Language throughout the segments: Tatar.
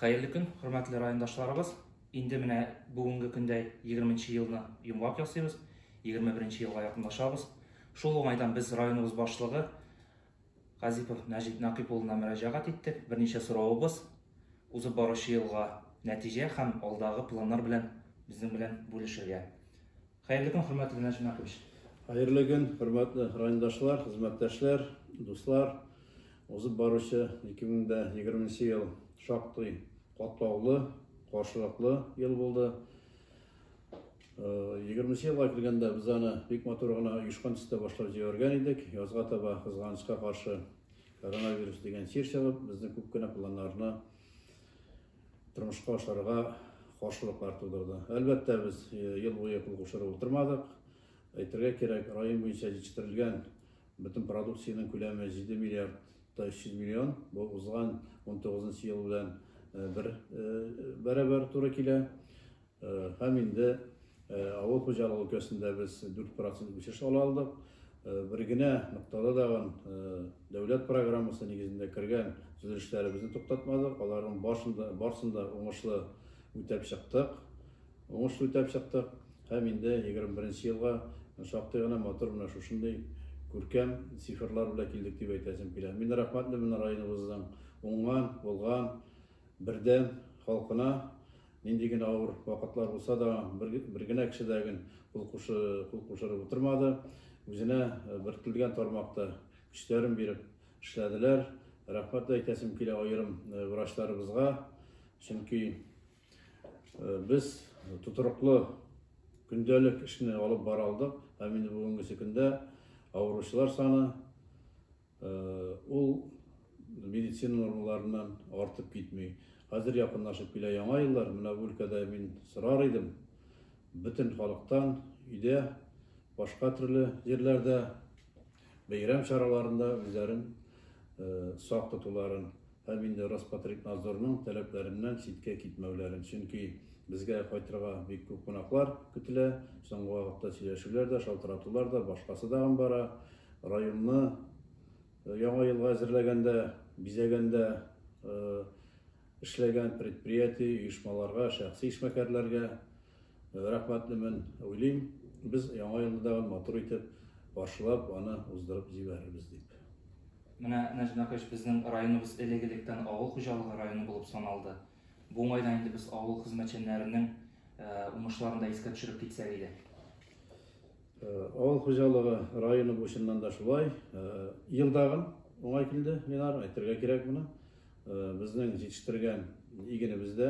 Хәерле көн, хөрмәтле райондашларыбыз! Инде менә бүгенге көндә 20 нче елны йомгак ясыйбыз, 21 нче елга якынлашабыз. Шул уңайдан без районыбыз башлыгы Газипов Нәҗип Нәкыйп улына мөрәҗәгать иттек. Берничә сорауыбыз узып баручы елга нәтиҗә һәм алдагы планнар белән безнең белән бүлешергә. Хәерле көн, хөрмәтле Ринат Җумакович! Хәерле көн, хөрмәтле райондашлар, хезмәттәшләр, дуслар! Узып баручы 2020 ел шактый катлаулы, каршылыклы ел булды. 20 елга килгәндә без аны бик матур гына оешкан төстә башлап җибәргән идек. Язга таба кызганычка каршы коронавирус дигән чир чыгып, безнең күп кенә планнарны тормышка ашырырга каршылыклар тудырды. Әлбәттә, без ел буе кул кушырып утырмадык. Әйтергә кирәк, район буенча җитештерелгән бөтен продукциянең күләме 7 миллиард 300 миллион. Бу узган 19 ел белән бер бәрабәр туры килә. Һәм инде авыл хуҗалыгы өлкәсендә без 4 процент үсеш ала алдык. Бер генә ноктада тагын дәүләт программасы нигезендә кергән төзелешләребезне туктатмадык. Аларның барсын да уңышлы үтәп чыктык. Уңышлы үтәп чыктык һәм инде 21 нче елга шактый гына матур менә шушындый күркәм цифрлар белән килдек дип әйтәсем килә. Мин рәхмәтле менә районыбызның уңган, булган бердәм халкына нинди генә авыр вакытлар булса да бер генә кеше дә гел кул кушырып утырмады. Үзенә бертелгән тармакта көчләрен биреп эшләделәр. Рәхмәт әйтәсем килә аерым врачларыбызга. Чөнки без тотрыклы көндәлек эшне алып бара алдык. Һәм инде бүгенгесе көндә авыручылар саны Ул медицина нормаларыннан артып китми. Хәзер якынлашып килә яңа еллар, менә бу өлкәдә мин сорар идем, бөтен халыктан өйдә, башка төрле җирләрдә бәйрәм чараларында үзләрен сак тотуларын, Һәм инде Роспотребнадзорның таләпләреннән читкә китмәүләрен, чөнки безгә кайтырга бик күп кунаклар көтелә, соңгы вакытта сөйләшүләр дә, шалтыратулар да, башкасы тагын бара. Районны Яңа елга әзерләгәндә, бизәгәндә эшләгән предприятие, оешмаларга, шәхси эшмәкәрләргә, Рәхмәт дип мин уйлыйм. Без Яңа елны тагын матур итеп каршылап, аны уздырып җибәрербез дип. Менә, Нәҗмәкәч, безнең районыбыз элек-электән авыл хуҗалыгы районы булып саналды. Бу уңайдан инде без авыл хезмәтчәннәренең уңышларын да искә төшереп китсәк иде. Авыл хуҗалыгы районы бу чыннан да шулай. Ел тагын уңай килде, Ленар, әйтергә кирәк моны. Безнең җитештергән игенебез дә,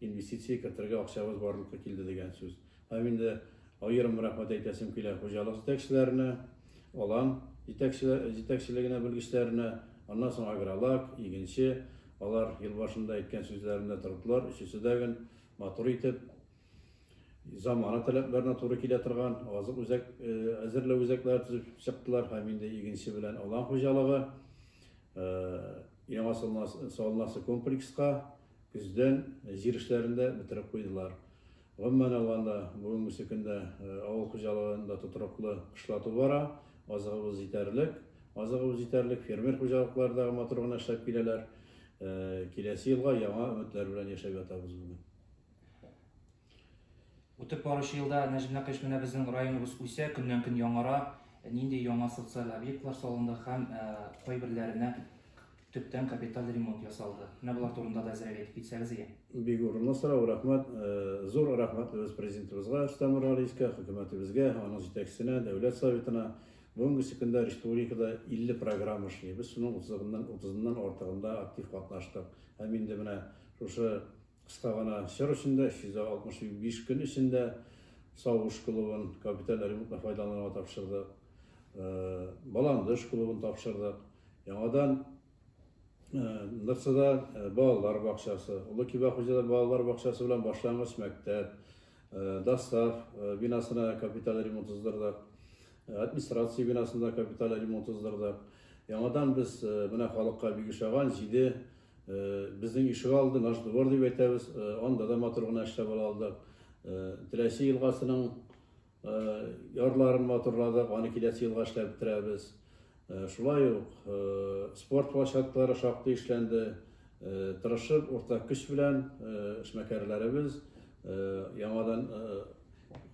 Инвестиция кертергә акчабыз барлыкка килде дигән сүз. Һәм инде аерым рәхмәт әйтәсем килә хуҗалык җитәкчеләренә, алан җитәкчелегенә, белгечләренә, аннан соң агролак, игенче, алар ел башында әйткән сүзләрендә тордылар, өчесе дә гөн матур итеп, замана таләпләренә туры килә торган азык үзәк әзерләү үзәкләре төзеп чыктылар һәм инде игенче белән алан хуҗалыгы яңа салынасы комплекска Көздән җир эшләрен дә бетереп куйдылар. Гомумән алганда, бүгенгесе көндә авыл хуҗалыгында тотрыклы кышлату бара, азыгыбыз җитәрлек. Азыгыбыз җитәрлек, фермер хуҗалыклары да матур гына эшләп киләләр. Киләсе елга яңа өметләр белән яшәп ятабыз бүген. Үтеп баручы елда Нәҗмә Кыш менә безнең районыбыз үсә, көннән-көн яңара. Нинди яңа социаль объектлар салынды һәм кайберләренә төптән капиталь ремонт ясалды? Менә болар турында да әзрәк әйтеп китсәгез ие. Бик урынлы сорау, рәхмәт. Зур рәхмәтлебез Президентыбызга Рөстәм Миңгәрәйскә, хөкүмәтебезгә, аның җитәкчесенә, Дәүләт Советына. Бүгенгесе көндә республикада 50 программа эшли. Без шуның утызыннан артыгында актив катнаштык. Һәм инде менә шушы Кыска гына чор эчендә, 365 көн эчендә Савыш клубын, капиталь ремонтны файдаланырга тапшырдык. Баландыш клубын тапшырдык. Яңадан Нырсыда балалар бакчасы, Олы Киба хуҗада балалар бакчасы белән башлангыч мәктәп, Дастав бинасына капиталь ремонт уздырдык. Администрация бинасында капиталь ремонт уздырдык. Яңадан без менә халыкка бик ошаган җиде Безнең ишек алды, наш двор дип әйтәбез, анда да матур гына эшләп ала алдык. Теләче елгасының ярларын матурладык, аны киләсе елга эшләп бетерәбез. Шулай ук спорт площадкалары шактый эшләнде. Тырышып, уртак көч белән эшмәкәрләребез яңадан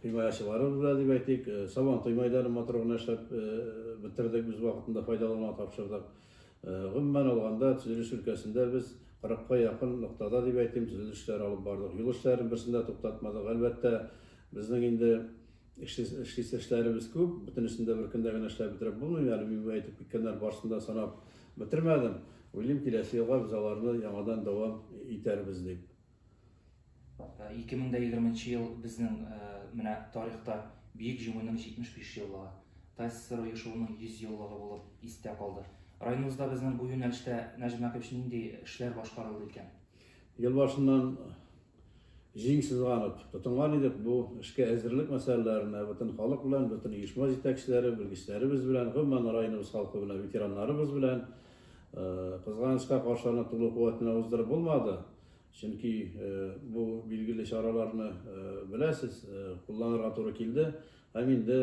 химаячылары белән дип әйтик, Сабантуй мәйданын матур гына эшләп бетердек, без вакытында файдалануга тапшырдык. Гомумән алганда, төзелеш өлкәсендә без кырыкка якын ноктада, дип әйтим, төзелеш эшләре алып бардык. Юл эшләрен берсен дә туктатмадык. Әлбәттә, безнең инде эшлисе эшләребез күп, бөтенесен дә бер көндә генә эшләп бетереп булмый. Әле мин әйтеп киткәннәр барысын да санап бетермәдем. Уйлыйм, киләсе елга без аларны яңадан дәвам итәрбез дип. 2020 ел безнең менә тарихта Бөек Җиңүнең 75 еллыгы, ТАССР оешуының 100 еллыгы булып истә калды. Районыбызда безнең бу юнәлештә, Наҗип Мәкевич, нинди эшләр башкарылды икән? Ел башыннан җиң сызганып тотынган идек бу эшкә әзерлек мәсьәләләренә, бөтен халык белән, бөтен оешма җитәкчеләре, белгечләребез белән, гомумән, районыбыз халкы белән, ветераннарыбыз белән. Кызганычка каршы, аны тулы куәт белән уздырып булмады. Чөнки бу билгеле чараларны беләсез, кулланырга туры килде. Һәм инде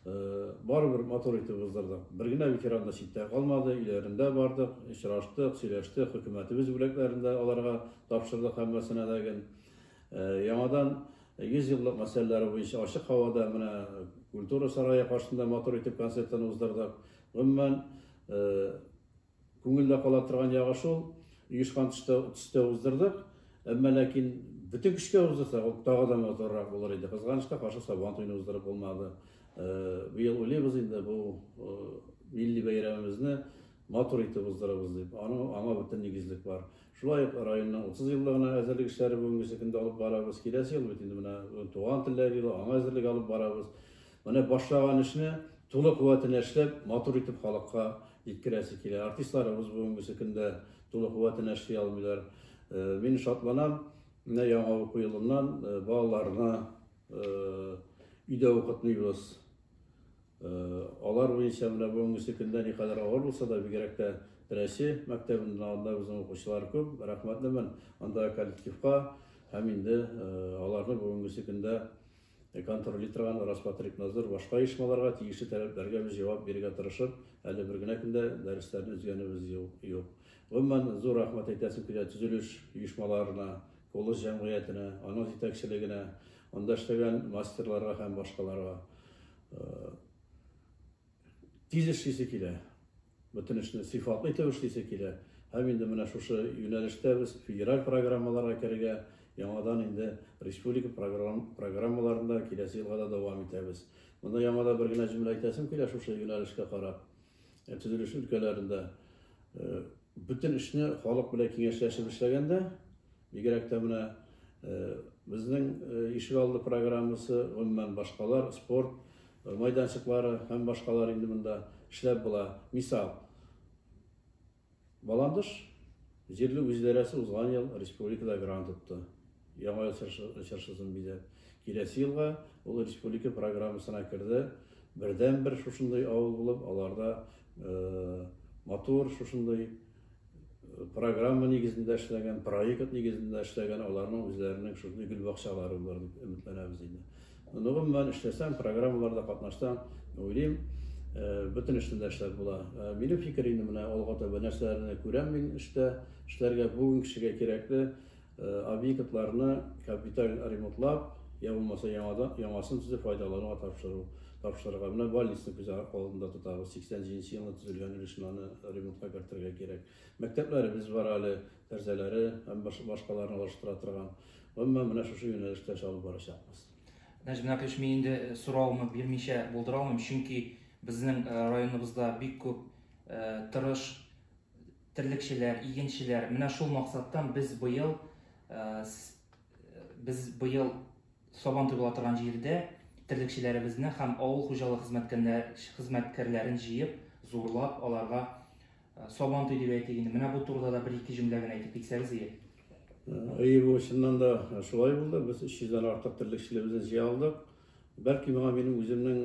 барыбер матур итеп уздырдык. Бер генә ветеран да читтә калмады, өйләрендә бардык, очраштык, сөйләштек, хөкүмәтебез бүләкләрен дә аларга тапшырдык һәммәсенә дә гел. Яңадан 100 еллык мәсьәләләре буенча ачык һавада менә культура сарае каршында матур итеп концертларны уздырдык. Гомумән, Күңелдә кала торган ягы шул, оешкан төстә, төстә уздырдык. Әмма ләкин бөтен көчкә уздырсак, ул тагы да матуррак булыр иде. Кызганыч та, каршы Сабан туен уздырып булмады. Быел уйлыйбыз инде бу милли бәйрәмебезне матур итеп уздырабыз дип. Аны аңа бөтен нигезлек бар. Шулай ук районның 30 еллыгына әзерлек эшләре бүгенге көндә алып барабыз. Киләсе ел бит инде менә туган телләр елы, аңа әзерлек алып барабыз. Менә башлаган эшне тулы куәтенә эшләп, матур итеп халыкка җиткерәсе килә. Артистларыбыз бүгенгесе көндә тулы куәтенә эшли алмыйлар. Э, мин шатланам, менә яңа уку елыннан э, балаларына э, өйдә укытмыйбыз. Алар буенча менә бүгенгесе көндә никадәр авыр булса да, бигрәк тә Рәсе мәктәбеннән анда безнең укучылар күп. Рәхмәтлемен анда коллективка һәм инде аларны бүгенгесе көндә Контрольли торган Роспотребнадзор башка оешмаларга тиешле таләпләргә без җавап бирергә тырышып, әле бер генә көндә дәресләрне өзгәнебез юк. Гомумән, зур рәхмәт әйтәсем килә төзелеш оешмаларына, Колос җәмгыятенә, аның җитәкчелегенә, анда эшләгән мастерларга һәм башкаларга. тиз эшлисе килә, бөтен эшне сыйфатлы итеп эшлисе килә. Һәм инде менә шушы юнәлештә без федераль программаларга керергә, яңадан инде республика программаларында киләсе елга да дәвам итәбез. Монда яңада бер генә җөмлә әйтәсем килә шушы юнәлешкә карап. Э, төзелеш өлкәләрендә э, бөтен эшне халык белән киңәшләшеп эшләгәндә, бигрәк тә менә э, безнең ишегалды программасы, гомумән башкалар, спорт, майданчыклары һәм башкалар инде монда эшләп була. Мисал, Баландыш җирле үзидарәсе узган ел республикада грант отты. Яңа ел чыршысын бизәп. Киләсе елга ул республика программасына керде. Бердәнбер шушындый авыл булып, аларда матур шушындый программа нигезендә эшләгән, проект нигезендә эшләгән, аларның үзләренең шундый гөл бакчалары булыр дип өметләнәбез инде. Ну, гомумән эшләсәм, программаларда катнашсам, уйлыйм, э, бөтен эштә дә эшләп була. Э, минем фикер инде менә алга таба нәрсәләрне күрәм мин эштә, эшләргә бүгенге кешегә кирәкле, Объектларны капиталь ремонтлап, я булмаса яңадан яңасын төзеп файдалануга тапшыру, тапшырырга. Менә больницны күз алдында тотабыз. 87 елны төзелгән өлешне аны ремонтка кертергә кирәк. Мәктәпләребез бар әле, тәрзәләре һәм башкаларны алыштыра торган. Гомумән, менә шушы юнәлештә эш алып барачакбыз. Нәҗмә Кыш, мин инде э, сорауны бирмичә булдыра алмыйм, чөнки безнең э, районыбызда бик күп э, тырыш терлекчеләр, игенчеләр, менә шул максаттан без быел без быел сабан туйгыла торган җирдә терлекчеләребезне һәм авыл хуҗалык хезмәткәрләрен җыеп, зурлап, аларга сабан туй дип әйтик инде. Менә бу турыда да бер-ике җөмлә генә әйтеп китсәгез ие. Әйе, бу чыннан да шулай булды. Без 300 дән артык терлекчелебезне җыя алдык. Бәлки моңа минем үземнең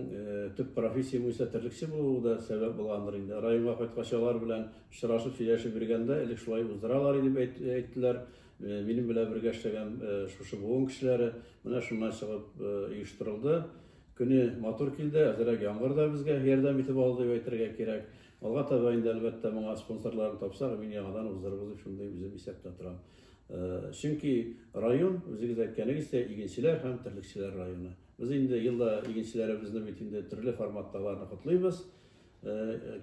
төп профессиям буенча терлекче булуы да сәбәп булгандыр инде. Районга кайткач алар белән очрашып сөйләшеп йөргәндә, элек шулай уздыралар иде дип әйттеләр. Минем белән бергә эшләгән шушы буын кешеләре менә шуннан чыгып оештырылды. Көне матур килде, әзерәк яңгыр да безгә ярдәм итеп алды дип әйтергә кирәк. Алга таба инде, әлбәттә, моңа спонсорларын тапсак, мин яңадан уздырырбыз дип шундый үзем исәптә торам. Чөнки район, үзегез әйткәнегезчә, игенчеләр һәм терлекчеләр районы. Без инде елда игенчеләребезне бит инде төрле форматта аларны котлыйбыз.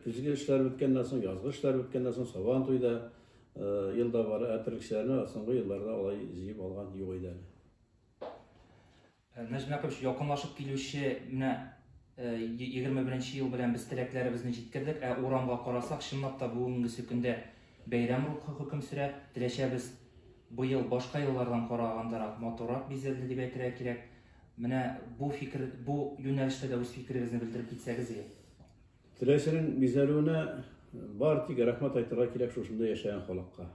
Көзге эшләр беткәннән соң, язгы эшләр беткәннән соң Сабан туйда елда бары, ә терлекчеләрне соңгы елларда алай җыеп алган юк иде әле. Нәҗмә кыч, якынлашып килүче менә егерме беренче ел белән без теләкләребезне җиткердек, ә урамга карасак, чынлап та бүгенгесе көндә бәйрәм рухы хөкем сөрә. Теләчәбез быел башка еллардан карагандарак, матуррак бизәлде дип әйтергә кирәк. Менә бу фикер, бу юнәлештә дә үз фикерегезне белдереп китсәгез иде. Теләчәнең бизәлүенә бар тик рәхмәт әйтергә кирәк шушында яшәгән халыкка.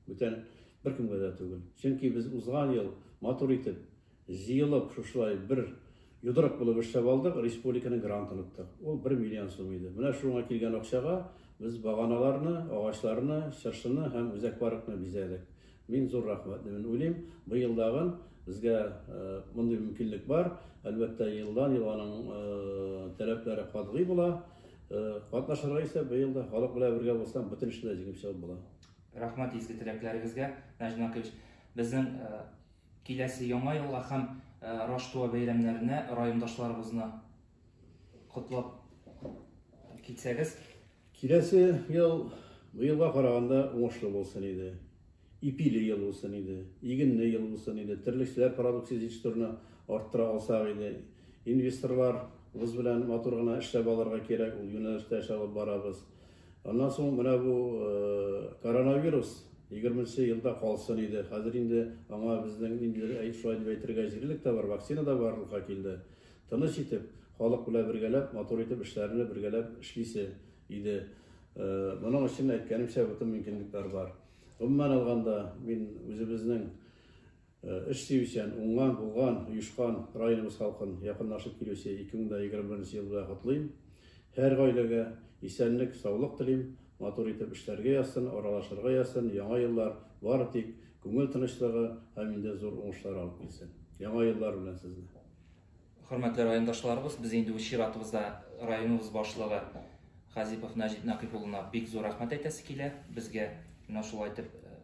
Бүтән беркемгә дә түгел. Чөнки без узган ел матур итеп Җыелып, шушылай бер йодрык булып эшләп алдык, республиканың грантын оттык. Ул бер миллион сум иде. Менә шуңа килгән акчага без баганаларны, агачларны, чыршыны һәм үзәк паркны бизәдек. Мин зур рәхмәтлемен. Уйлыйм, быел тагын безгә мондый мөмкинлек бар. Әлбәттә, елдан-ел аның таләпләре катгый була. Катнашырга исә быел да халык белән бергә булсаң, бөтен эшне дә җиңеп чыгып була. Рәхмәт изге теләкләрегезгә, Наҗмә Кыч. Безнең Киләсе Яңа елга һәм Раштуа бәйрәмнәренә райондашларыбызны котлап китсәгез? Киләсе ел быелга караганда уңышлы булсын иде. Ипиле ел булсын иде, игенле ел булсын иде, терлекчеләр продукция җитештерүне арттыра алсак иде. Инвесторларыбыз белән матур гына эшләп алырга кирәк, ул юнәлештә эш алып барабыз. Аннан соң менә бу коронавирус егерменче елда калсын иде. Хәзер инде аңа безнең инде шулай дип әйтергә җирлек тә бар, вакцина да барлыкка килде. Тыныч итеп, халык белән бергәләп, матур итеп эшләрне бергәләп эшлисе иде. Моның өчен әйткәнемчә бөтен мөмкинлекләр бар. Гомумән алганда, мин үзебезнең Эш сөючән, уңган, булган, оешкан районыбыз халкын якынлашып килүче 2021 ел белән котлыйм. Һәр гаиләгә исәнлек, саулык телим, матур итеп эшләргә язсын, аралашырга язсын, яңа еллар бары тик күңел тынычлыгы һәм инде зур уңышлар алып килсен. Яңа еллар белән сезне! Хөрмәтле райондашларыбыз, без инде үз чиратыбызда районыбыз башлыгы Хазипов Нәҗип Нәкыйп улына бик зур рәхмәт әйтәсе килә. Безгә менә шулай итеп э,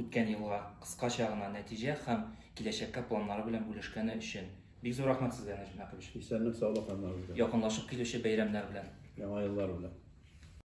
үткән елга кыскача гына нәтиҗә һәм киләчәккә планнары белән бүлешкәне өчен. Бик зур рәхмәт сезгә, Нәҗип Нәкыйпович. Исәнлек, саулык һәммәгезгә. Якынлашып килүче бәйрәмнәр белән. Яңа еллар белән.